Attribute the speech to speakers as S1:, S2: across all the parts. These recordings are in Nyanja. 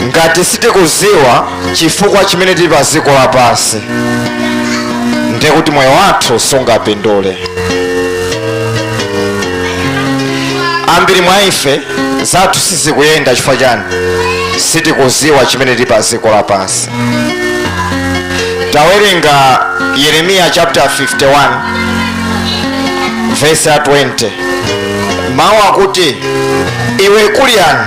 S1: ngati sitikudziwa chifukwa chimene tili pa dziko lapansi ndiye kuti moyo wathu sungapindule ambiri mwa ife zathu sizikuyenda chifukwa chani sitikudziwa chimene tili pa dziko lapansi tawerenga yeremiya chapter 51 verse ya 20 mawu akuti iwe kuliyani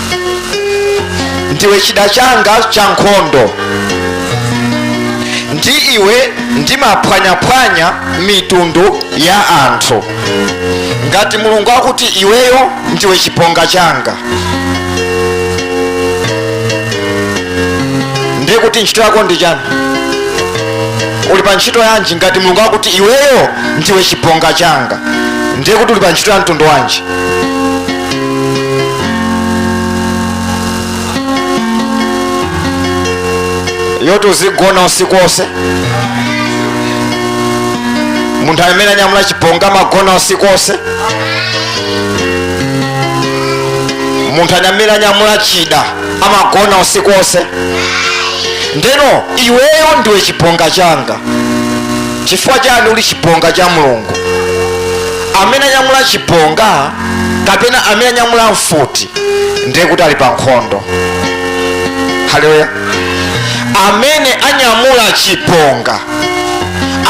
S1: ndiwe chida changa cha nkhondo ndi iwe ndimaphwanyaphwanya mitundu ya anthu ngati mulungu akuti iweyo ndiwe chibonga changa ndiye kuti ntchito yako ndi chani uli pa ntchito yanji ngati mulungu akuti iweyo ndiwe chibonga changa ndiye kuti uli pa ntchito ya mtundu wanji yoti uzigona usiku wonse munthu amene anyamula chibonga amagona usiku wonse munthu amene anyamula chida amagona usiku wonse ndeno iweyo ndiwe chibonga changa chifukwa chani uli chibonga cha mulungu amene anyamula chibonga kapena amene anyamula mfuti ndiye kuti ali pa nkhondo haleluya amene anyamula chibonga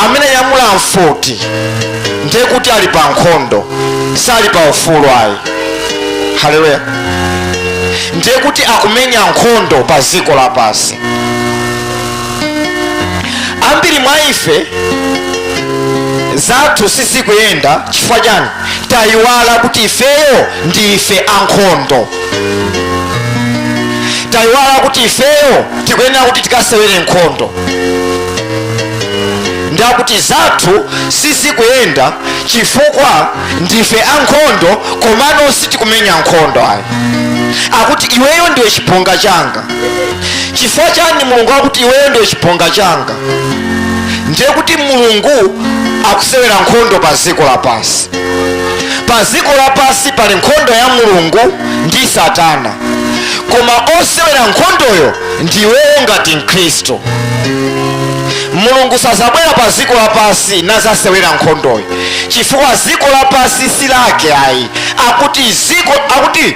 S1: amene anyamula mfuti ndiye kuti ali pa nkhondo sali pa ufulu ayi haleluya ndiye kuti akumenya nkhondo pa dziko lapansi ambiri mwa ife zathu sizikuyenda chifukwa chani tayiwala kuti ifeyo ndi ife ankhondo tayiwala kuti ifeyo tikuyenera kuti tikasewere nkhondo ndiye kuti zathu sizikuyenda chifukwa ndife ankhondo komano sitikumenya nkhondo ayi akuti iweyo ndiwe chibonga changa chifukwa chani mulungu akuti iweyo ndiwe chibonga changa ndiye kuti mulungu akusewera nkhondo pa dziko lapansi pa dziko lapansi pali nkhondo ya mulungu ndi satana koma osewera nkhondoyo ndiweyo ngati mkhristu mulungu sazabwera pa dziko lapansi nazasewera nkhondoyo chifukwa dziko lapansi si lake ayi akuti dziko akuti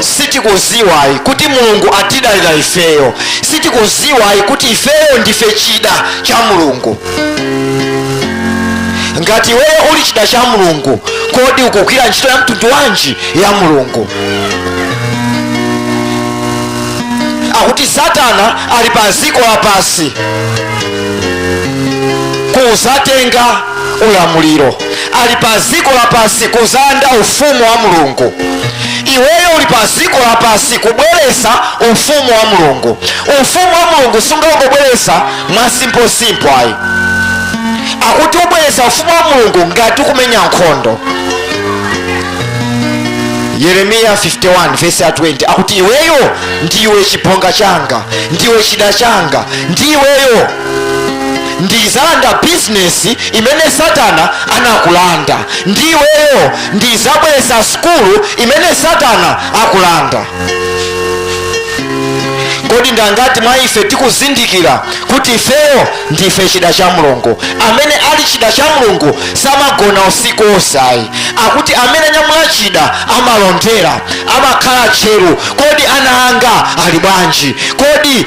S1: sitikuziwayi kuti mulungu atidalira ifeyo sitikuziwayi kuti ifeyo ndife chida cha mulungu ngati iweyo uli chida cha mulungu kodi ukugwira ntchito ya mtundu wanji ya mulungu akuti satana ali pa dziko lapansi kuzatenga ulamuliro ali pa dziko lapansi kuzalanda ufumu wa mulungu iweyo uli pa dziko lapansi kubweresa ufumu wa mulungu ufumu wa mulungu sungangobweresa mwa simposimpo ayi akuti ubweresa ufumu wa mulungu ngati ukumenya nkhondo yeremiya 51 vesi ya 20 akuti iweyo ndiwe chibonga changa ndiwe chida changa ndiweyo ndizalanda business imene satana anakulanda ndi iweyo ndizabweresa skulu imene satana akulanda kodi ndangati mwa ife tikuzindikira kuti ifeyo ndife chida cha mulungu amene ali chida cha mulungu samagona usiku onse ayi akuti amene anyamula chida amalondera amakhala tcheru kodi ana anga ali bwanji kodi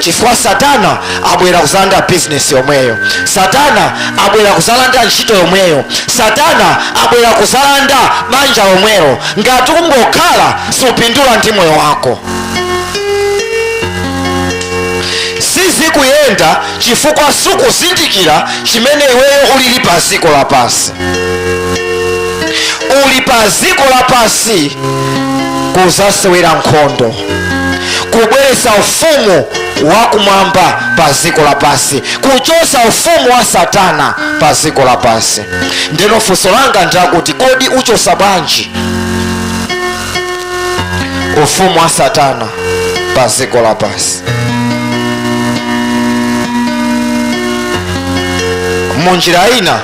S1: chifukwa satana abwera kuzalanda bizinesi yomweyo satana abwera kuzalanda ntchito yomweyo satana abwera kuzalanda banja lomwelo ngati ukungokhala supindula ndi moyo wako sizikuyenda chifukwa sukuzindikira chimene iweyo ulili pa dziko lapansi uli pa dziko lapansi kuzasewera nkhondo kubweretsa ufumu wakumwamba pa ziko lapansi kuchosa ufumu wa satana pa ziko lapansi ndeno funso langa ndakuti kodi uchosa bwanji ufumu wa satana pa ziko lapansi munjira ina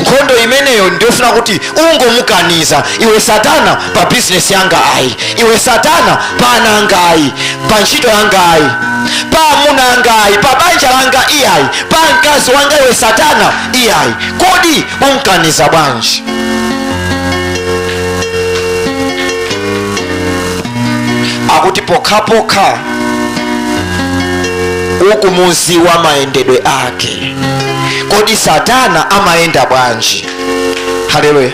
S1: nkhondo imeneyo ndiyofuna kuti ungomukaniza iwe satana pa bizinesi yanga ayi iwe satana pa ana anga ayi pa ntchito yanga ayi pa amuna anga ayi pa banja langa iyayi pa mkazi wanga iwe satana iyayi kodi umkaniza bwanji akuti pokhapokha ukumuziwa mayendedwe ake kodi satana amayenda bwanji haleluya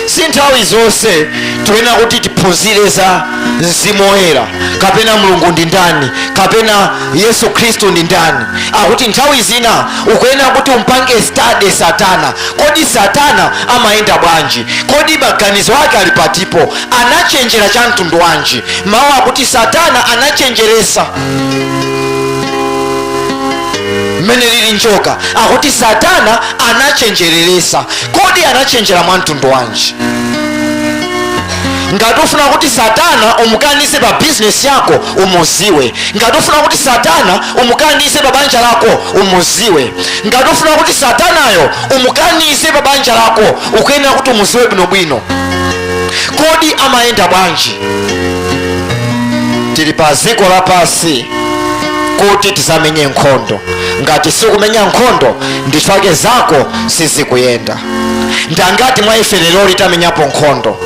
S1: si nthawi zonse tiyenera kuti tiphunzire za mzimu woyera kapena mulungu ndi ndani kapena yesu khristu ndi ndani akuti nthawi zina ukuyenera kuti umpange study satana kodi satana amayenda bwanji kodi maganizo ake ali patipo anachenjera cha mtundu wanji mawu akuti satana anachenjeresesa mmene lili njoka akuti satana anachenjeresesa kodi anachenjera mwa mtundu wanji ngati ufuna kuti satana umukanise pa bizinesi yako umuziwe ngati ufuna kuti satana umukanise pa banja lako umuziwe ngati ufuna kuti satanayo umukanise pa banja lako ukuyenera kuti umuziwe bwinobwino kodi amayenda bwanji tili pa dziko lapansi kuti tizamenye nkhondo ngati sikumenya nkhondo ndi chifukwa chake zako sizikuyenda ndangati mwa ife leroli tamenyapo nkhondo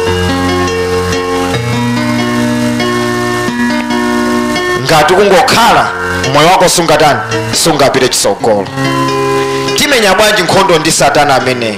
S1: ngati kungokhala moyo wako sungatani sungapite chisogolo timenya bwanji nkhondo ndi satana ameneyo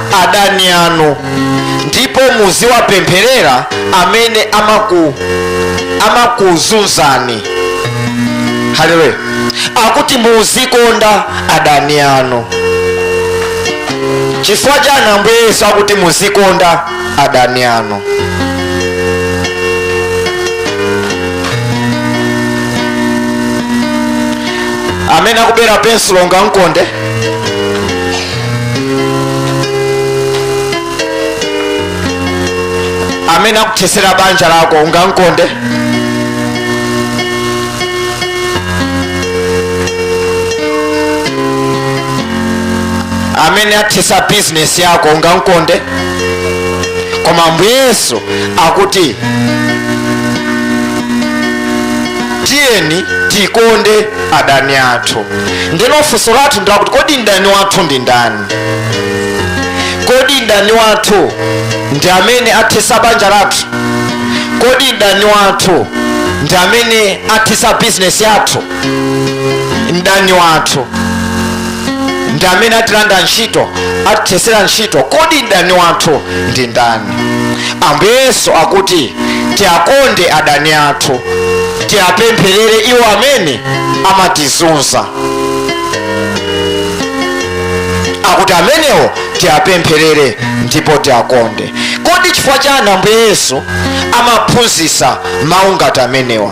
S1: adani anu ndipo muziwapempherera amene amaku amakuzunzani haleluya akuti muzikonda adani anu chifukwa chani ambuye yesu akuti muzikonda adani anu amene akubera pensulo ungamkonde amene akuthesera banja lako ungamkonde amene athesa bizinesi yako ungamkonde koma ambuye yesu akuti tiyeni tikonde adani athu ndeno funso lathu ndilakuti kodi mdani wathu ndi ndani kodi mdani wathu ndi amene athesa banja lathu kodi mdani wathu ndi amene athesa bizinesi yathu mdani wathu ndi amene atilanda ntchito atithesera ntchito kodi mdani wathu ndi ndani ambuye yesu akuti tiakonde adani athu tiapempherere iwo amene amatizunza akuti amenewo tiapempherere ndipo tiakonde kodi chifukwa chani ambuye yesu amaphunzitsa mawu ngati amenewa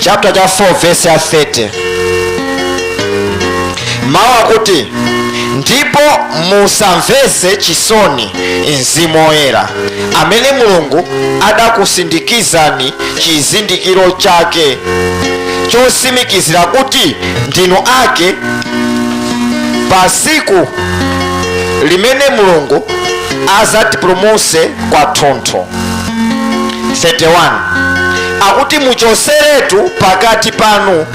S1: chapter cha 4 verse ya 30 mawu akuti ndipo musamvese chisoni mzimu woyera amene mulungu adakusindikizani chizindikiro chake chosimikizira kuti ndinu ake pa siku limene mulungu azatipulumuse kwathunthu 31 akuti muchoseretu pakati panu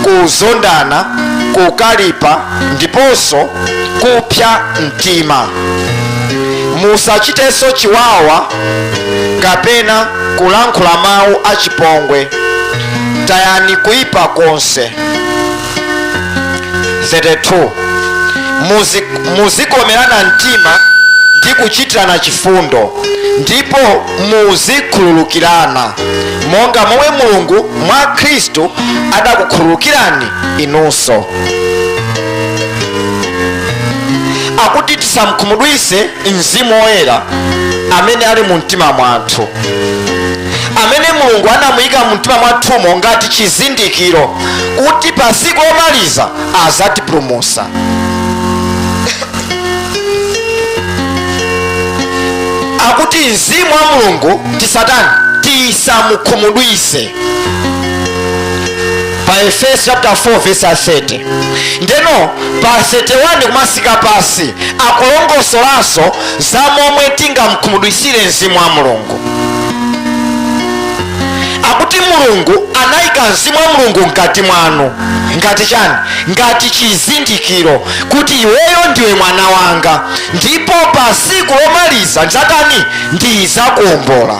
S1: kuzondana kukalipa ndiponso kupsa mtima musachitenso chiwawa kapena kulankhula mawu achipongwe tayani kuipa konse 32 muzikomerana mtima ndi kuchitirana chifundo ndipo muzikhululukirana monga momwe mulungu mwa khristu adakukhululukirani inunso akuti tisamkhumudwise mzimu woyera amene ali mu mtima mwathu amene mulungu anamuyika mu mtima mwathumo ngati chizindikiro kuti pa tsiku lomaliza azatipulumutsa akuti mzimu wa mulungu tisatani tisamukhumudwise pa efeso chapter 4 verse ya 30 ndeno pa 31 kumasika pansi akulongosolanso za momwe tingamkhumudwitsire mzimu wa mulungu akuti mulungu anayika mzimu wa mulungu mkati mwanu ngati chani ngati chizindikiro kuti iweyo ndiwe mwana wanga ndipo pa siku lomaliza ndzatani ndizakuombola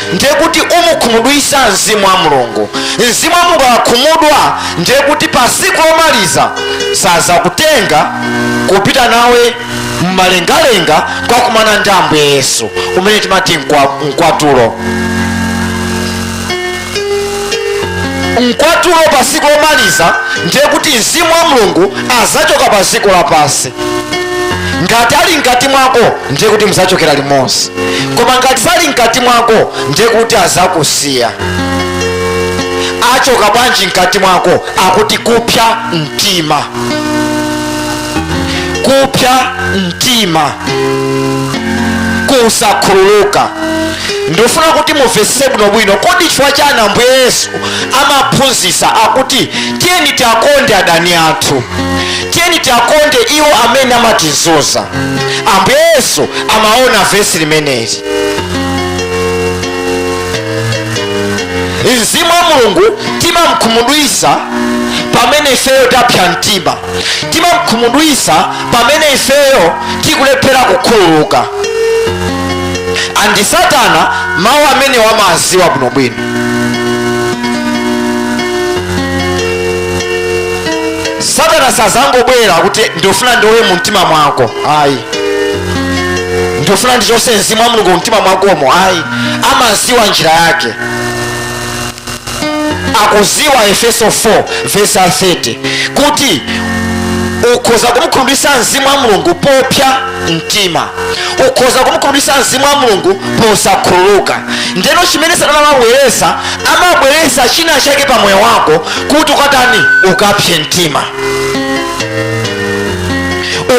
S1: ndiye kuti umukhumudwisa mzimu wa mulungu mzimu wa mulungu akakhumudwa ndiye kuti pa siku lomaliza sazakutenga kupita nawe mmalengalenga kukakumana ndi ambuye yesu umene timati mkwatulo mkwatulo pa siku lomaliza ndiye kuti mzimu wa mulungu azachoka pa siku lapansi ngati ali mkati mwako ndiye kuti muzachokera limodzi koma ngati sali mkati mwako ndiye kuti azakusiya achoka bwanji mkati mwako akuti kupsa mtima kupsa mtima kusakhululuka ndifuna kuti mumvetsetse bwinobwino kodi chifukwa chani ambuye yesu amaphunzitsa akuti tiyeni tiwakonde adani athu tiyeni tiakonde iwo amene amatizunza ambuye yesu amaona vesi limeneli mzimu wa mulungu timamkhumudwisa pamene ifeyo tapsa mtima timamkhumudwisa pamene ifeyo tikulephera kukhululuka andi satana mawu amene amawaziwa bwinobwino satana sazangobwera kuti ndifuna ndibe mu mtima mwako ayi ndifuna ndichose mzimu wa mulungu mu mtima mwakomo ayi amaziwa njira yake akuziwa efeso 4 vesi 30 kuti ukhoza kumkhumudwitsa mzimu wa mulungu popsa mtima ukhoza kumukhumudwitsa mzimu wa mulungu posakhululuka ndeno chimene satana amabweresa amabweresa china chake pa moyo wako kuti ukatani ukapse mtima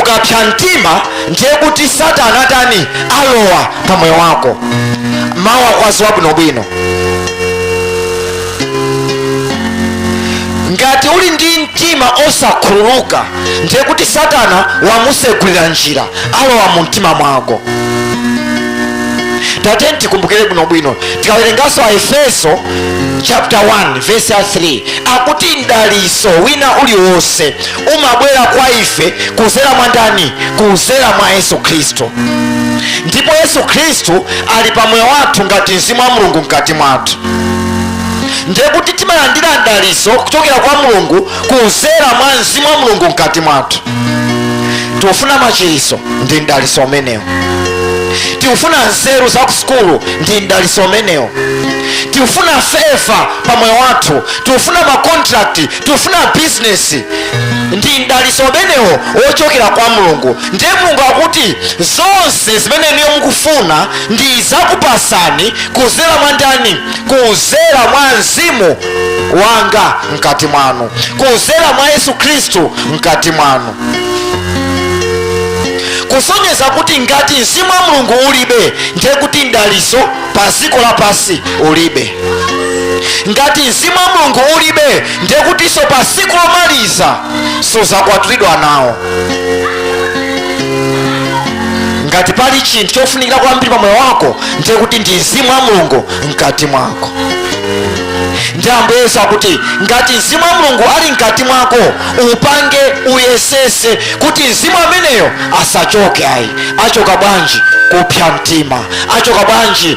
S1: ukapsa mtima ndiye kuti satana atani alowa pa moyo wako mawu akuwaziwa bwinobwino ngati uli ndi mtima osakhululuka ndiye kuti satana wamusegulira njira alowa mu mtima mwako tiyeni tikumbukire bwinobwino tikawerenganso aefeso chapter 1 verse 3 akuti mdaliso wina uliwonse umabwera kwa ife kuzera mwa ndani kuzera mwa yesu khristu ndipo yesu khristu ali pa moyo wathu ngati mzimu wa mulungu mkati mwathu ndiye kuti timalandira mdaliso kuchokera kwa mulungu kuzera mwa mzimu wa mulungu mkati mwathu tiufuna machiriso ndi mdaliso umenewo tiufuna nzeru za kusukulu ndi mdaliso umenewo tiufuna favor pa moyo wathu tiufuna makontrakti tikufuna bizinesi ndi mdaliso umenewo wochokera kwa mulungu ndiye mulungu akuti zonse zimene inuyo mukufuna ndizakupasani kuzera mwa ndani kuzera mwa mzimu wanga mkati mwanu kuzera mwa yesu khristu mkati mwanu kusonyeza kuti ngati mzimu wa mulungu ulibe ndiye kuti mdaliso pa dziko lapansi ulibe ngati mzimu wa mulungu ulibe ndiye kutinso pa siku lomaliza suzakwatulidwa nawo ngati pali chinthu chofunikira kwambiri pa moyo wako ndiye kuti ndi mzimu wa mulungu mkati mwako ndiye ambuye yesu akuti ngati mzimu wa mulungu ali mkati mwako upange uyesese kuti mzimu ameneyo asachoke ayi achoka bwanji kupsa mtima achoka bwanji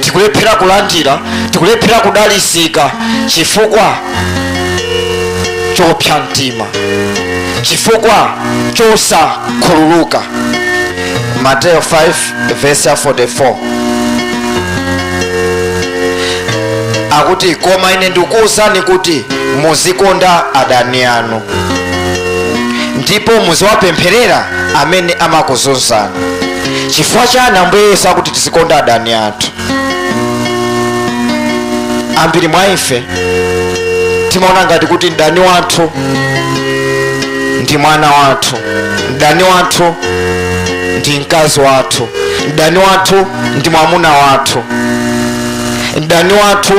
S1: tikulephera kulandira tikulephera kudalisika chifukwa chopsa mtima chifukwa chosakhululuka mateyo 5 vesi ya 44 akuti koma ine ndikuwuzani kuti muzikonda adani anu ndipo muziwapempherera amene amakuzunzani chifukwa chani ambuye yesu akuti tizikonda adani athu ambiri mwa ife timaona ngati kuti mdani wathu ndi mwana wathu mdani wathu ndi mkazi wathu mdani wathu ndi mwamuna wathu mdani wathu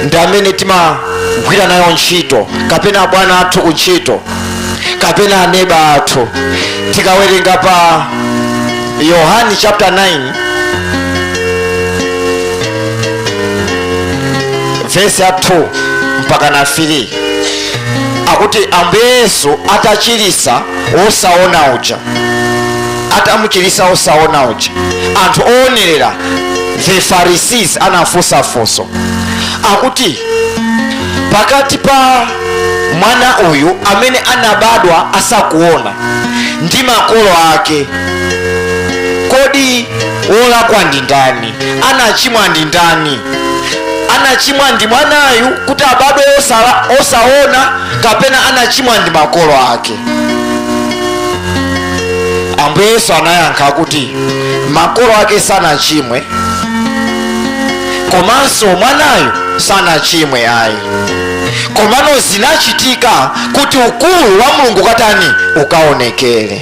S1: ndi amene timagwira nayo ntchito kapena abwana athu ku ntchito kapena aneba athu tikawerenga pa yohani chapter 9 vesi ya 2 mpaka na 3 akuti ambuye yesu atachilisa wosaona uja atamuchilisa wosaona uja anthu owonerera the pharisees anafunsa funso akuti pakati pa mwana uyu amene anabadwa asakuona ndi makolo ake kodi wolakwa ndi ndani anachimwa ndi ndani anachimwa ndi mwanayu kuti abadwe osaona kapena anachimwa ndi makolo ake ambuye yesu anayankha kuti makolo ake sanachimwe komanso mwanayu sanachimwe ayi komano zinachitika kuti ukulu wa mulungu ukatani ukaonekere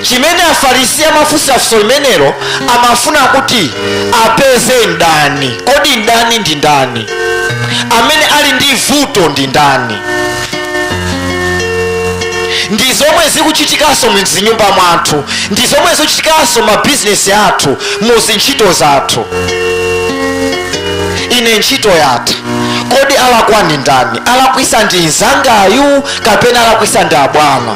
S1: chimene afarisi amafunsira funso limenelo amafuna kuti apeze ndani kodi ndani ndi ndani amene ali ndi vuto ndi ndani ndi zomwe zikuchitikanso mzinyumba mwathu ndi zomwe zikuchitikanso mabizinesi athu mu zintchito zathu ine ntchito yatha kodi alakwa ndi ndani alakwisa ndi mzangayu kapena alakwisa ndi abwana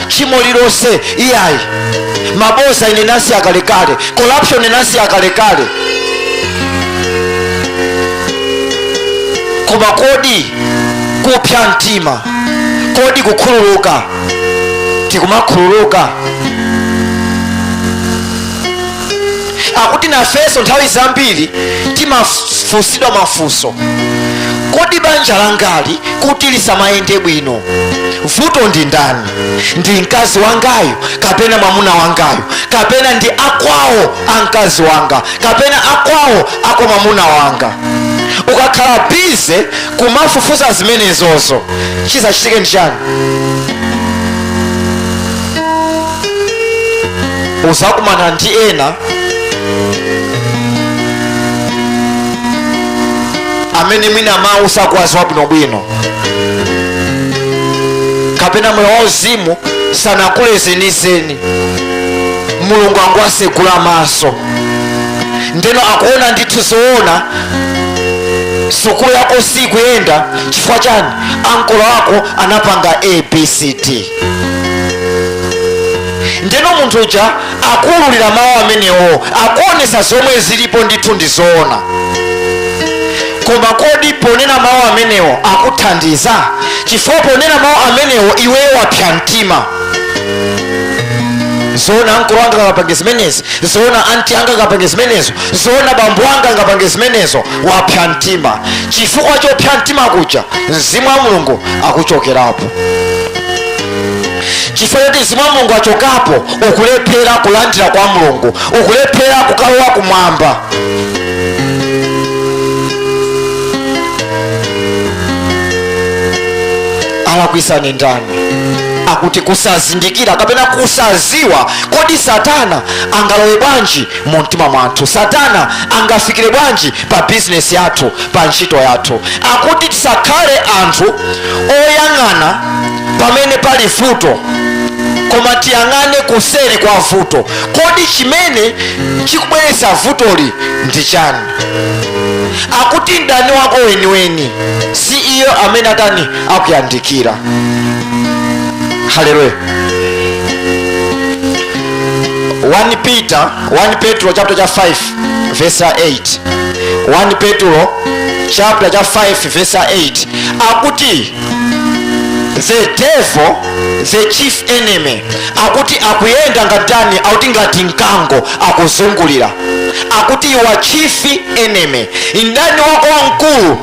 S1: tchimo lilonse iyayi maboza ine nasiya kalekale corruption nasiya kalekale koma kodi kupsa mtima kodi kukhululuka tikumakhululuka akuti nafenso nthawi zambiri timafunsidwa mafunso kodi banja langali kuti lisamayende bwino vuto ndi ndani ndi mkazi wangayu kapena mwamuna wangayu kapena ndi akwawo a mkazi wanga kapena akwawo akwa mwamuna wanga ukakhala bize kumafufuza zimenezozo chizachitike ndi chani uzakumana ndi ena amene mwina mawu sakuwaziwa bwinobwino kapena moyo wauzimu sanakule zenizeni mulungu angowasegula maso ndeno akuona ndithu zoona sukulu yako sikuyenda chifukwa chani ankolo ako anapanga abcd ndeno munthu uja akuululira mawu amenewo akuonesa zomwe zilipo ndithu ndi zoona koma kodi ponena mawu amenewo akuthandiza chifukwa ponena mawu amenewo iweyo wapsa mtima zoona ankolo anga angapange zimenezi zoona anti anga angapange zimenezo zoona bambo anga angapange zimenezo wapsa mtima chifukwa chopsa mtima kuja mzimu wa mulungu akuchokerapo chifukwa choti mzimu wa mulungu achokapo ukulephera kulandira kwa mulungu ukulephera kukalowa kumwamba alakwisa ni ndani akuti kusazindikira kapena kusaziwa kodi satana angalowe bwanji mu mtima mwathu satana angafikire bwanji pa bizinesi yathu pa ntchito yathu akuti tisakhale anthu oyang'ana pamene pali vuto koma tiyang'ane kuseri kwa vuto kodi chimene chikubweretsa vutoli ndi chani akuti mdani wako weniweni si iyo amene atani akuyandikira haleluya 1 petro chapter cha 5 vesa 8 1 petulo chapter cha 5 vesa 8 akuti the devil the chief enemy akuti akuyenda ngatani akuti ngati mkango akuzungulira akuti your chief enemy mdani wako wamkulu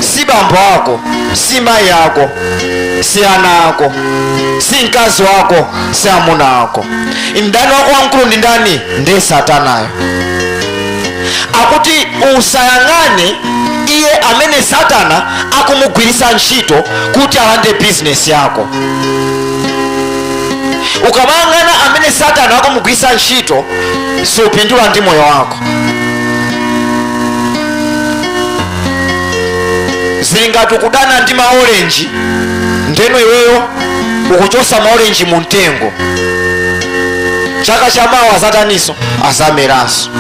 S1: si bambo ako si mayi ako si ana ako si mkazi wako si amuna ako mdani wako wamkulu ndi ndani ndiye satanayo akuti usayang'ane iye amene satana akumugwiritsa ntchito kuti alande bizinesi yako ukamayang'ana amene satana akumugwiritsa ntchito supindula ndi moyo wako zili ngati ukudana ndi maorenji ndeno iweyo ukuchosa maorenji mu mtengo chaka cha mawa azataninso azameranso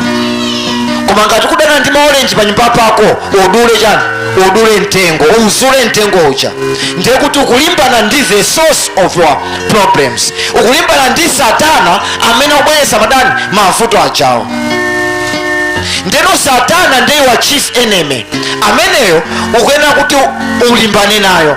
S1: koma ngati ukudana ndi maorenji pa nyumba pako udule chani udule mtengo uzule mtengo uja ndiye kuti ukulimbana ndi the source of your problems ukulimbana ndi satana amene akubweretsa ndani mavuto ajawo ndeno satana ndiye wa chief enemy ameneyo ukuyenera kuti ulimbane nayo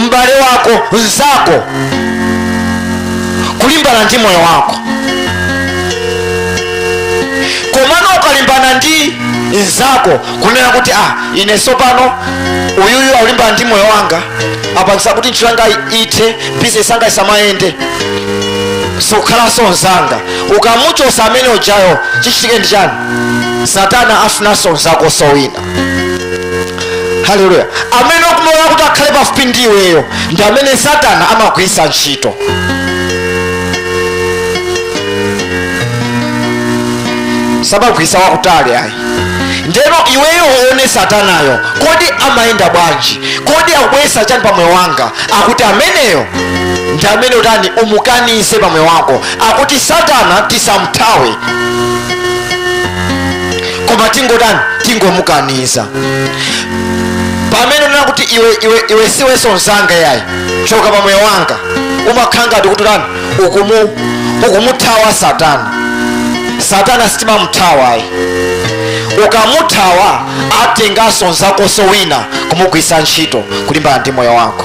S1: m'bale wako mzako kulimbana ndi moyo wako komano ukalimbana ndi mzako kunena kuti ah ine sopano uyuyu akulimbana ndi moyo wanga apangisa kuti ntchito yanga ithe bizinesi yanga isamayende sikukhalanso mzanga ukamuchosa amene ujayo chichitike ndi chani satana afunanso mzakonso wina haleluya amene ukumulola kuti akhale pafupi ndi iweyo ndi amene satana amagwiritsa ntchito samagwiritsa wakutali ayi ndeno iweyo uone satanayo kodi amayenda bwanji kodi akubweretsa chani pa moyo wanga akuti ameneyo ndi amene utani umukanize pa moyo wako akuti satana tisamthawe koma tingotani tingomukaniza pamene unena kuti iwe iwe siwenso mzanga yayi choka pa moyo wanga umakhala ngati kuti utani ukumuthawa satana satana sitimamuthawa ayi ukamuthawa atenganso nzakonso wina kumugwiritsa ntchito kulimbana ndi moyo wako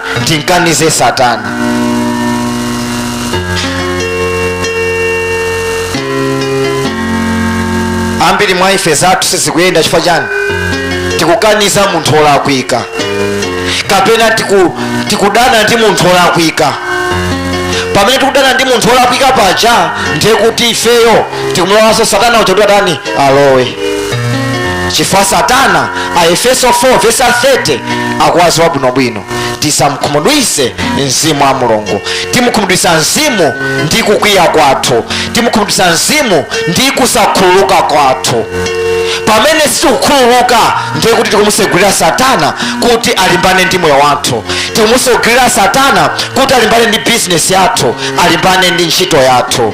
S1: timkanize satana ambiri mwa ife zathu sizikuyenda chifukwa chani tikukaniza munthu olakwika kapena tikudana ndi munthu olakwika pamene tikudana ndi munthu olakwika paja ndiye kuti ifeyo tikumulolanso satana uja kuti atani alowe chifukwa satana aefeso 4 vesa 30 akuyadziwa bwinobwino tisamkhumudwise mzimu wa mulungu timukhumudwisa mzimu ndi kukwiya kwathu timukhumudwisa mzimu ndi kusakhululuka kwathu pamene sitikukhululuka ndiye kuti tikumusegulira satana kuti alimbane ndi moyo wathu tikumusegulira satana kuti alimbane ndi bizinesi yathu alimbane ndi ntchito yathu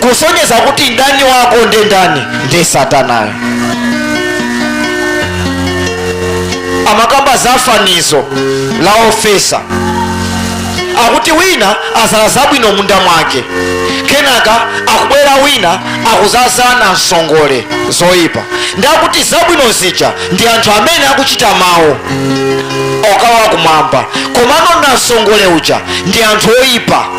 S1: kusonyeza kuti mdani wako ndi ndani ndi satanayo amakamba za fanizo la ofesa akuti wina azala zabwino munda mwake kenaka akubwera wina akuzazala nansongole zoyipa ndiye akuti zabwino zija ndi anthu amene akuchita mawu okalowa kumwamba komano nansongole uja ndi anthu oyipa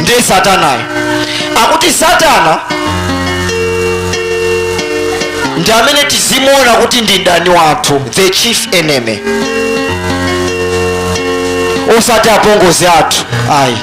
S1: ndi satanayo akuti satana ndi amene tizimuona kuti ndi mdani wathu the chief enemy osati apongozi athu ayi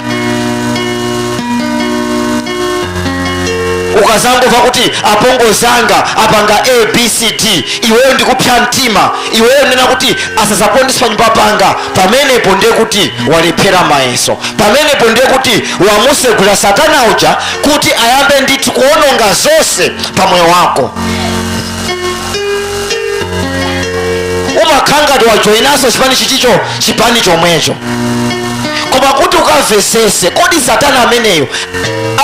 S1: ukazangova kuti apongozi anga apanga abcd iweyo ndikupsa mtima iweyo nkunena kuti asazapondeso panyumba panga pamenepo ndiye kuti walephera mayeso pamenepo ndiye kuti wamusegulira satana uja kuti ayambe ndithu kuononga zonse pa moyo wako umakhala ngati wajoyinaso chipani chichicho chipani chomwecho koma kuti ukamvesese kodi satana ameneyo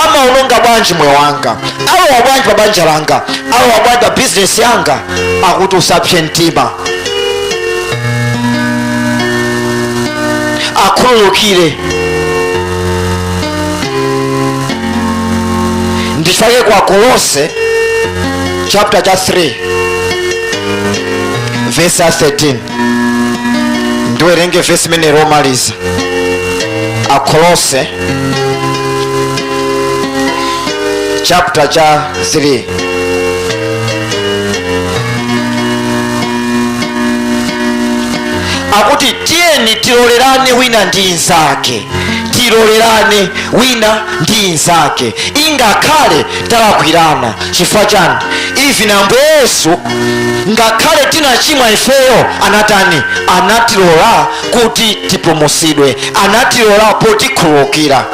S1: amaononga bwanji moyo wanga alowa bwanji pa banja langa alowa bwanji pa bizinesi yanga akuti usapse mtima akhululukire ndichifukwa chake ku akolose chapter cha 3 verse ya 13 ndiwerenge vesi limenelo lomaliza akolose chapter cha 3 akuti tiyeni tilolerane wina ndi nzake tilolerane wina ndi nzake ingakhale talakwirana chifukwa chani even ambuye yesu ngakhale tinachimwa ifeyo anatani anatilola kuti tipulumutsidwe anatilola potikhululukira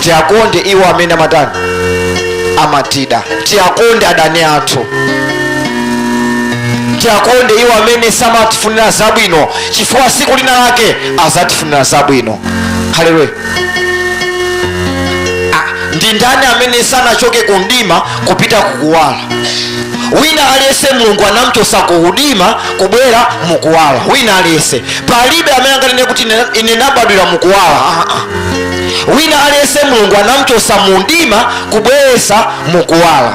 S1: tiakonde iwo amene amatani amatida tiakonde adani athu tiakonde iwo amene samatifunira zabwino chifukwa siku lina lake azatifunira zabwino haleluya Ah, ndi ndani amene sanachoke ku mdima kupita kukuwala wina aliyense mulungu anamchosa ku mdima kubwera mukuwala wina aliyense palibe amene anganene kuti ine- ine nabadwira mukuwala ah, ah. wina aliyense mulungu anamchosa mu mdima kubweresa mukuwala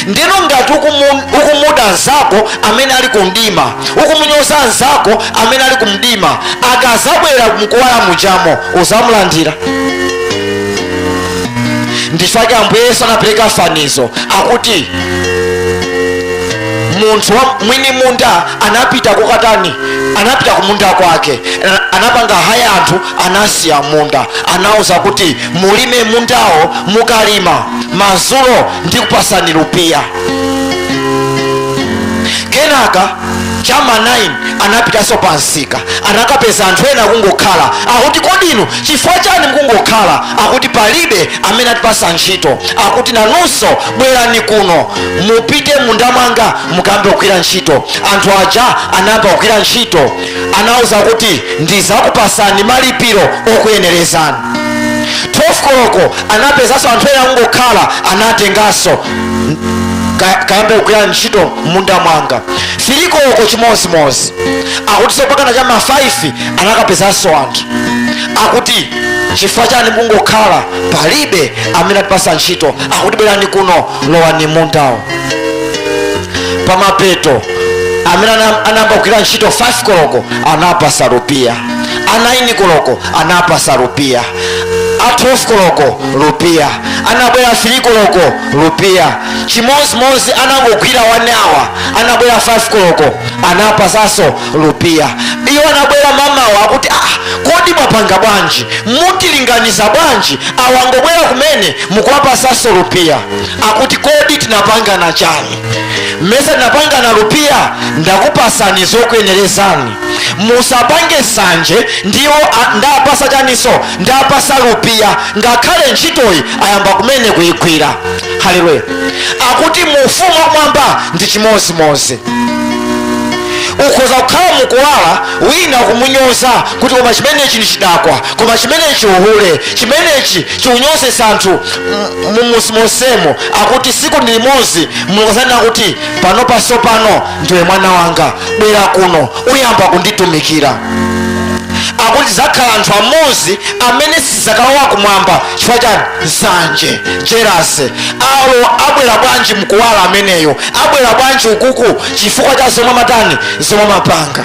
S1: ndiyeno ngati ukumu- ukumuda nzako amene ali ku mdima ukumunyoza nzako amene ali ku mdima akazabwera mukuwala mujamo uzamulandira nchifake ambuye yesu anapereka fanizo akuti munthu wa mwini munda anapita kokatani anapita kumunda kwake Ana- anapanga haya anthu anasiya munda anauza kuti mulime mundawo mukalima mazulo ndikupasani lupiya kenaka chama 9 anapitanso pansika anakapeza anthu ena akungokhala akuti kodi inu chifukwa chani mukungokhala akuti palibe amene atipasa ntchito akuti nanunso bwerani kuno mupite m'munda mwanga mukayambe kugwira ntchito anthu aja anayamba kugwira ntchito anauza kuti ndizakupasani malipiro okuyenerezani 12 koloko anapezanso anthu ena akungokhala anatenganso ka- kayambe kugwira ntchito m'munda mwanga 3 koloko chimozimozi akutinso mpakana cha ma 5 anakapezanso anthu akuti chifukwa chani mungokhala palibe amene atipasa ntchito akuti bwerani kuno lowani m'mundawo pamapeto amene ana- anayamba kugwira ntchito 5 koloko anapasa rupiya a 9 koloko anapasa rupiya a 12 koloko rupiya anabwera a 3 koloko rupiya chimozimozi anangogwira wani awa anabwera 5 koloko anapasanso rupiya iwo anabwera mamawa akuti ah, kodi mwapanga bwanji mutilinganiza bwanji awa angobwera kumene mukuwapasanso rupiya akuti kodi tinapangana chani mmesa tinapangana lupiya ndakupasani zokuyenerezani musapange sanje ndi iwo a- ndapasa chaniso ndapasa lupiya ngakhale ntchitoyi ayamba kumene kuyigwira haleluya akuti mu ufumu wakumwamba ndi chimozimozi ukhoza kukhala mukuwala wina kumunyoza kuti koma chimenechi ndi chidakwa koma chimenechi uhule chimenechi chikunyozesa anthu mumuzimonsemo akuti siku ndi limodzi mulungu azanena kuti pano paso pano ndiwe mwana wanga bwera kuno uyamba kunditumikira akuti zakhala anthu amodzi amene sizakalowa kumwamba chifukwa chani nsanje jerase awo abwera bwanji mkuwala ameneyo abwera bwanji ukuku chifukwa cha zomwe amatani zomwe amapanga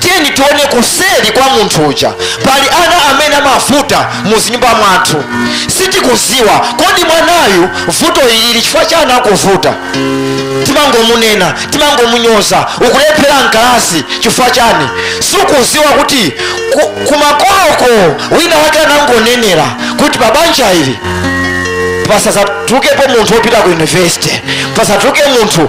S1: tiyeni tione kuseri kwa munthu uja pali ana amene amavuta mu zinyumba mwathu sitikuziwa kodi mwanayu vuto ilili chifukwa chani akuvuta timangomunena timangomunyoza ukulephera mkalasi chifukwa chani sukuziwa kuti ku- kumakoloko wina wake anangonenera kuti pabanja ili pasadzatulukepo munthu wopita ku yunivesite pasadzatuluke munthu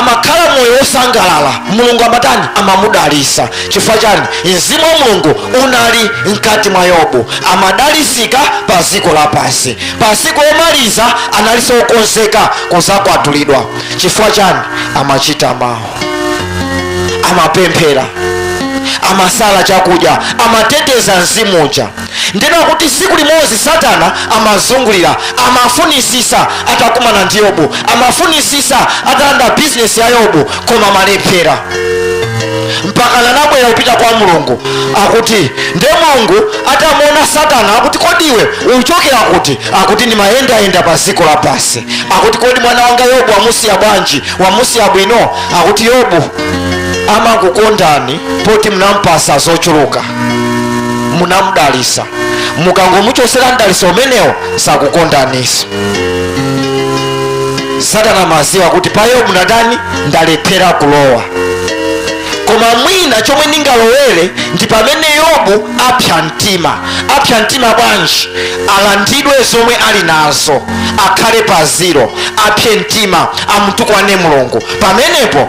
S1: amakhala moyo wosangalala mulungu amatani amamudalisa chifukwa chani mzimu wa mulungu unali mkati mwa yobu amadalisika pa ziko lapansi pa siku lomaliza analiso okonzeka kuzakwatulidwa chifukwa chani amachita mawu amapemphera amasala chakudya amateteza mzimu uja ndeno akuti siku limozi satana amazungulira amafunisisa atakumana ndi yobu amafunisisa atalanda bizinesi ya yobu koma amalephera mpaka anabwera kupita kwa mulungu akuti nde mulungu atamuona satana akuti kodi iwe uchokera kuti akuti ndimayendayenda pa ziko lapasi akuti kodi mwana wanga yobu wamusiya bwanji wamusiya bwino akuti yobu amakukondani poti mnampasa zochuluka munamudalisa mukangomuchosera mdaliso umenewo sakukondaniso satana amaziwa kuti pa yobu ndatani ndalephera kulowa koma mwina chomwe ndingalowere ndi pamene yobu apsa mtima apsa mtima bwanji alandidwe zomwe ali nazo akhale pa ziro apse mtima amutukwane mulungu pamenepo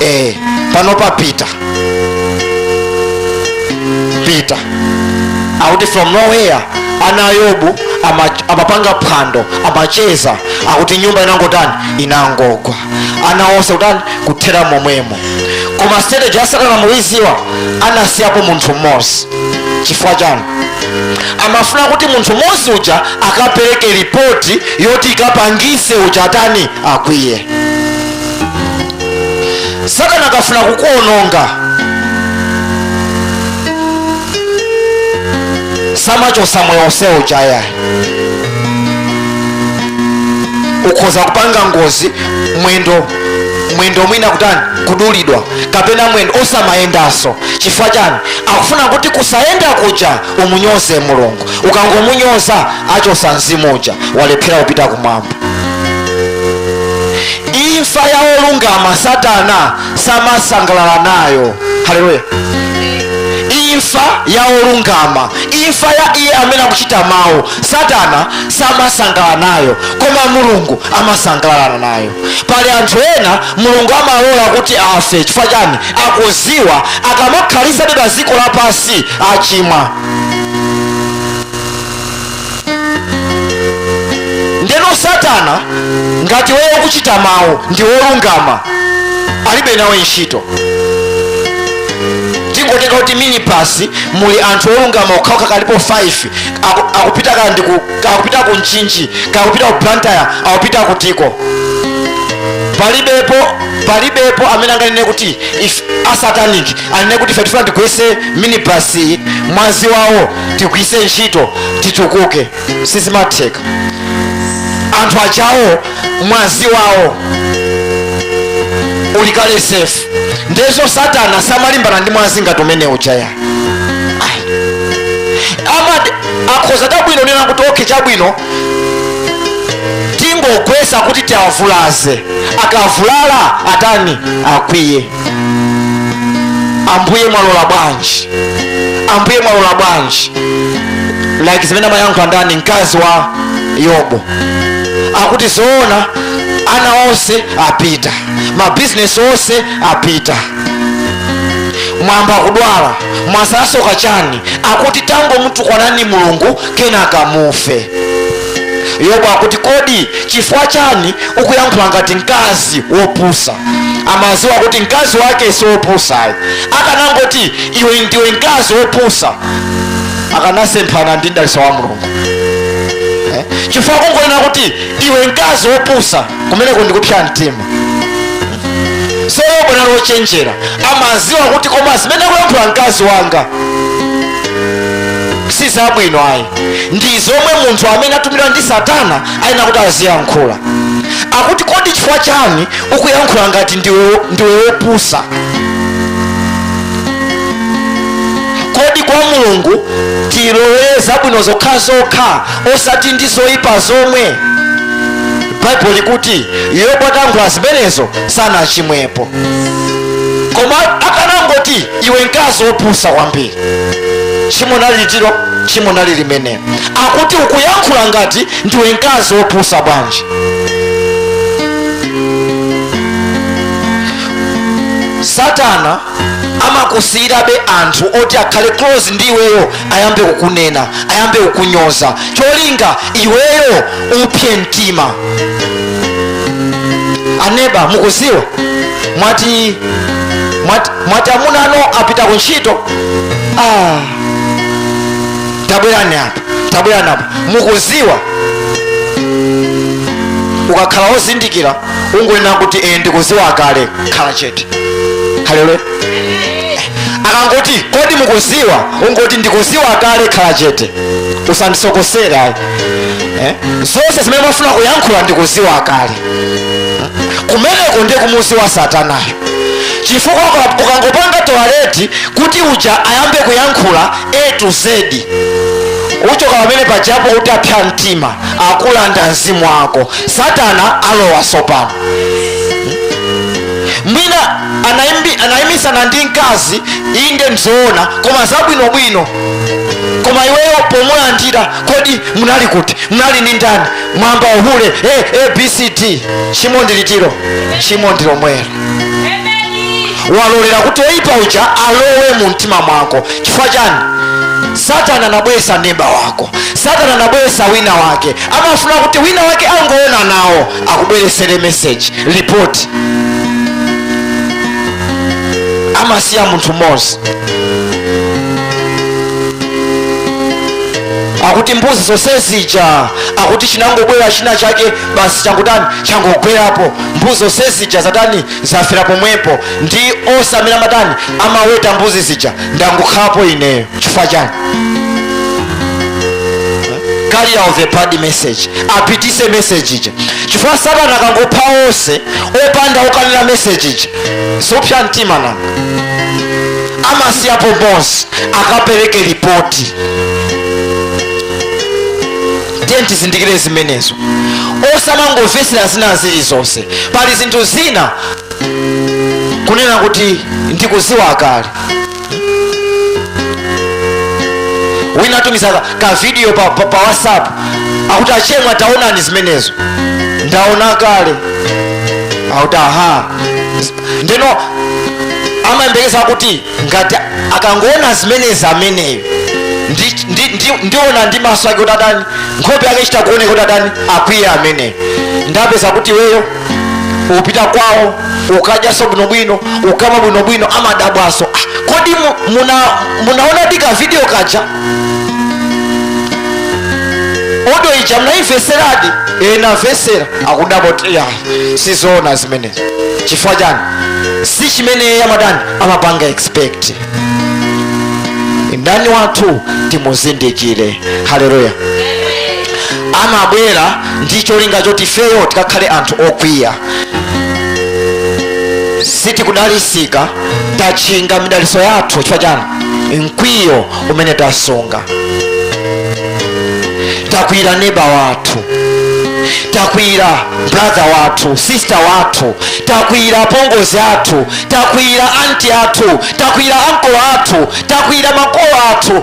S1: eh, panopa pita pita akuti from nowhere ana a yobu ama- amapanga phwando amacheza akuti nyumba inangotani inangogwa ana onse kutani kuthera momwemo koma strategy ya satana mukuiziwa anasiyapo munthu mmodzi chifukwa chani amafuna kuti munthu mmodzi uja akapereke ripoti yoti ikapangise uja atani akwiye satana akafuna kukuononga samachosa moyo onse uja yayi ukhoza kupanga ngozi mwendo mwendo mwina kutani kudulidwa kapena mwendo osamayendanso chifukwa chani akufuna kuti kusayenda kuja umunyoze mulungu ukangomunyoza achosa mzimu uja walephera kupita kumwamba imfa ya olungama satana samasangalala nayo haleluya imfa ya olungama imfa ya iye amene akuchita mawu satana samasangalala nayo koma mulungu amasangalala nayo pali anthu ena mulungu amalola kuti afe chifukwa chani akuziwa akamakhalisabe pa dziko lapansi achimwa ndeno satana ngati iweyo ukuchita mawu ndiwe wolungama alibe nawe ntchito tingotenga kuti minibasi muli anthu olungama okhaokha kaya alipo 5 aku- akupita kaya ndi ku- akupita ku mchinji kaya akupita ku blantyre akupita kutiko palibepo palibepo amene anganene kuti ife asatanic anene kuti ife tifuna tigwetse minibasi mwazi wawo tigwiritse ntchito titukuke sizimatheka anthu aja awo mwazi wawo uli kale safe nde so satana samalimbana ndi mwazi ngati umene uja yayi amati akhoza chabwino kunena kuti okay chabwino tingogwetsa kuti tiavulaze akavulala atani akwiye ambuye mwalola bwanji ambuye mwalola bwanji like zimene amayankhula ndani mkazi wa yobu akuti zoona ana onse apita mabizinesi onse apita mwayamba kudwala mwasalaso chani akuti tangomtukwanani mulungu kenaka mufe yobu akuti kodi chifukwa chani ukuyankhula ngati mkazi wopusa amaziwa kuti mkazi wake si wopusa ayi akanangoti iwe ndiwe mkazi wopusa akanasemphana ndi mdalitso wa mulungu Eh, chifukwa kungonena kuti iwe mkazi wopusa kumeneko ndikupsa mtima so yobu anali wochenjera amaziwa kuti koma zimene akuyankhula mkazi wanga si zabwino ayi ndi zomwe munthu amene atumidwa ndi satana ayenera kuti aziyankhula akuti kodi chifukwa chani ukuyankhula ngati ndiwe ndiwe wopusa kodi kwa mulungu tilolere zabwino zokhazokha osati ndi zoyipa zomwe baibulo likuti yobu atankhula zimenezo sanachimwepo koma akanangoti iwe mkazi wopusa kwambiri tchimo nali litilo tchimo nali limenelo akuti ukuyankhula ngati ndiwe mkazi wopusa bwanji satana amakusiyirabe anthu oti akhale close ndi iweyo ayambe kukunena ayambe kukunyoza cholinga iweyo upse mtima aneba mukuziwa mwa- mwati amuna anu apita ku ntchito ah. tabwe- tabwerani apa mukuziwa ukakhala wozindikira ungonena kuti e ndikuziwa kale khala chete haleluya akangoti kodi mukuziwa ungoti ndikuziwa kale khala chete usandisokosere ayi eh? zonse zimene mwafuna kuyankhula ndikuziwa kale kumeneko ndiye kumuziwa satanayo chifukwa uka- ukangopanga tolerate kuti uja ayambe kuyankhula a to z uchoka pamene pajapo utapsa mtima akulanda mzimu wako satana alowa tsopano mwina anaimbi- anaimisana ndi mkazi inde nzoona koma zabwinobwino koma iweyo pomulandira kodi munali kuti munali ndi ndani mwayamba uhule eh, abcd chimo ndi litilo chimo ndi lomwelo walolera kuti oyipa uja alowe mu mtima mwako chifukwa chani satana anabwesa neba wako satana anabwesa wina wake amafuna kuti wina wake angoona nawo akubweresere meseji lipoti amasiya munthu mmodzi akuti mbuzi zonse zija akuti chinangobwera china chake basi changotani changogwerapo mbuzi zonse zija zatani zafera pomwepo ndi onse amene amatani amaweta mbuzi zija ndangokhalapo ineyo chifukwa chani carrier of a bad message apitise message ija chifukwa satana akangopha onse opanda okanena message ija suupsa mtima nanga amasiyapo mmodzi akapereke ripoti tiyeni tizindikire zimenezo osamangomvetsera zina zilizonse pali zinthu zina kunena kuti ndikuziwa kale wina atumiza ka- ka video pa, pa, pa whatsapp akuti achemwa taonani zimenezo ndaona kale akuti aha ndeno amayembekeza kuti ngati akangoona zimenezi ameneyo ndi- ndi- ndi- ndiona ndi maso ake kuti atani nkhope yake ichita kuoneka kuti atani akwiye ameneyo ndapeza kuti iweyo upita kwawo ukadyaso bwinobwino ukamwa bwinobwino amadabwaso "Ah, kodi mu- muna, munaonadi ka video kaja audio ija mnaimveseradi e namvesera akudabwa kuti ya sizoona zimenezo chifukwa chani si chimene amadani amapanga expect mdani wathu timuzindikire haleluya amabwera ndi cholinga choti ifeyo tikakhale anthu okwiya sitikudalisika tatchinga midaliso yathu chifukwa chani mkwiyo umene tasunga takwiyira neba wathu takwiyira brother wathu sister wathu takwiyira apongozi athu takwiyira anti athu takwiyira ankolo athu takwiyira makolo athu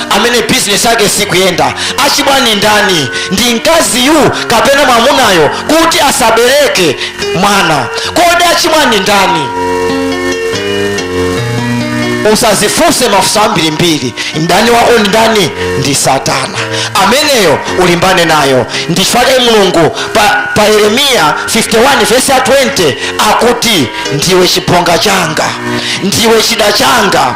S1: amene bizinesi yake sikuyenda achimwa ndi ndani ndi mkaziyu kapena mwamunayo kuti asabereke mwana kodi achimwa ndi ndani usazifunse mafunso ambirimbiri mdani wako ndi ndani ndi satana ameneyo ulimbane nayo ndi chifukwa chake mulungu pa, pa yeremiya 51 vesi ya 20 akuti ndiwe chibonga changa ndiwe chida changa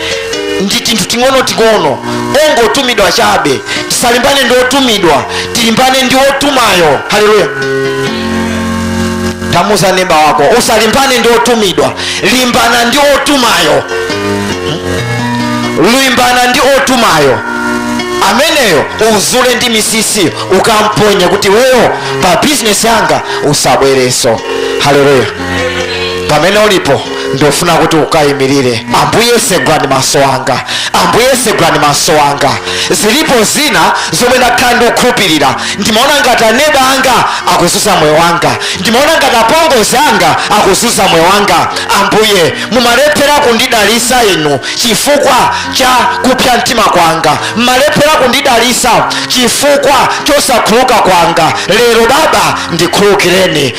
S1: ndi tinthu ting'ono ting'ono ongotumidwa chabe tisalimbane ndi otumidwa tilimbane ndi otumayo haleluya tamuuza neba wako usalimbane ndi otumidwa limbana ndi otumayo limbana ndi otumayo ameneyo uzule ndi misisi ukamponye kuti iweyo pa bizinesi yanga usabwereso haleluya pamene ulipo ndofuna kuti ukayimirire ambuye segulani maso anga ambuye segulani maso anga zilipo zina zomwe ndakhala ndikukhulupirira ndimaona ngati aneba anga akuzunza moyo wanga ndimaona ngati apongozi anga akuzunza moyo wanga ambuye mumalephera kundidalisa inu chifukwa cha kupsa mtima kwanga mumalephera kundidalisa chifukwa chosakhululuka kwanga lero baba ndikhululukireni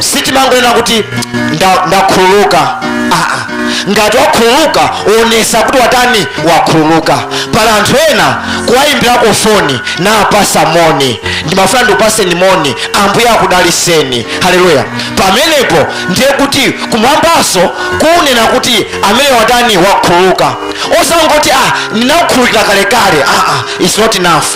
S1: sitimangonena kuti nda- ndakhululuka aa ngati wakhululuka onesa kuti watani wakhululuka pali anthu ena kuwayimbirako foni napasa moni ndimafuna ndikupaseni moni ambuye akudaliseni haleluya pamenepo ndiye kuti kumwambaso kunena kuti amene watani wakhululuka osangoti ah ndinakukhululukira kalekale aa it's not enough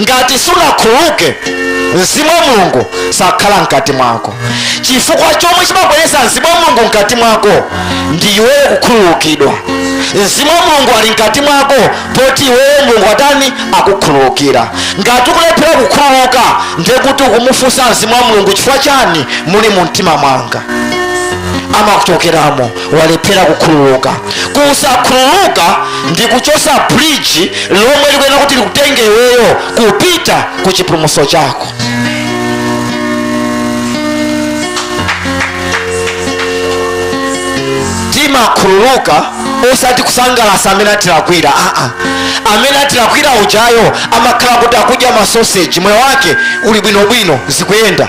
S1: ngati sunakhululuke mzimu wa mulungu sakhala mkati mwako chifukwa chomwe chimabweretsa mzimu wa mulungu mkati mwako ndi iweyo kukhululukidwa mzimu wa mulungu ali mkati mwako poti iweyo mulungu watani wakukhululukira ngati ukulephera kukhululuka ndiye kuti ukumufunsa mzimu wa mulungu chifukwa chani muli mu mtima mwanga amakuchokeramo walephera kukhululuka kusakhululuka ndi kuchosa bridge lomwe likuyenera kuti likutenge iweyo kupita ku chipulumutso chako timakhululuka osati kusangalasa amene atilakwira aa amene atilakwira ujayo amakhala kuti akudya masoseji moyo wake uli bwinobwino zikuyenda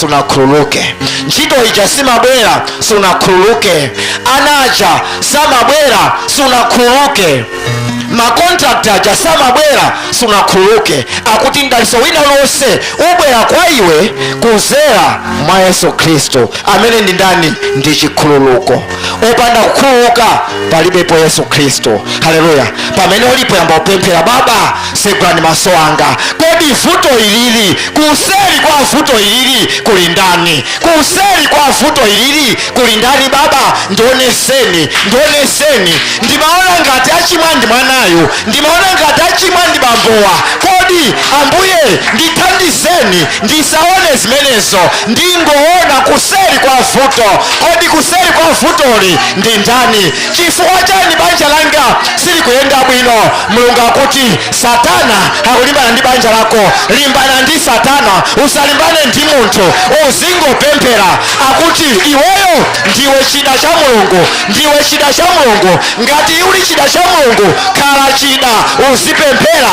S1: sunakhululuke ntchito ija simabwera sunakhululuke ana aja samabwera sunakhululuke makontrakti aja samabwera sunakhululuke akuti mdaliso wina lonse ubwera kwa iwe kuzera mwa yesu khristu amene ndi ndani ndi chikhululuko opanda kukhululuka palibepo yesu khristu haleluya pamene ulipo yamba kupemphera baba segulani maso anga kodi vuto ilili kuseri kwa vuto ilili kuli ndani kuseri kwa vuto ilili kuli ndani baba ndioneseni ndioneseni ndimaona ngati achimwa ndi mwanayu ndimaona ngati achimwa ndi bambowa kodi ambuye ndithandizeni ndisaone zimenezo ndingoona kuseri kwa vuto kodi kuseri kwa vutoli ndi ndani chifukwa chani banja langa silikuyenda bwino mulungu akuti satana akulimbana ndi banja lako limbana ndi satana usalimbane ndi munthu uzingopemphera akuti iweyo ndiwe chida cha mulungu ndiwe chida cha mulungu ngati uli chida cha mulungu khala chida uzipemphera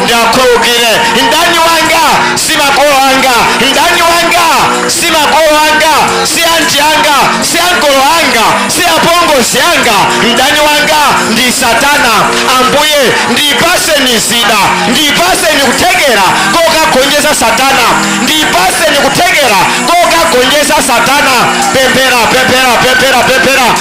S1: ndazindikira mdani wanga si makolo anga mdani wanga si makolo anga si anti anga si ankolo anga si apongozi anga mdani wanga ndi satana ambuye ndipaseni zida ndipaseni kuthekera kokagonjesa satana ndipaseni kuthekera kokagonjesa satana pemphera pemphera pemphera pemphera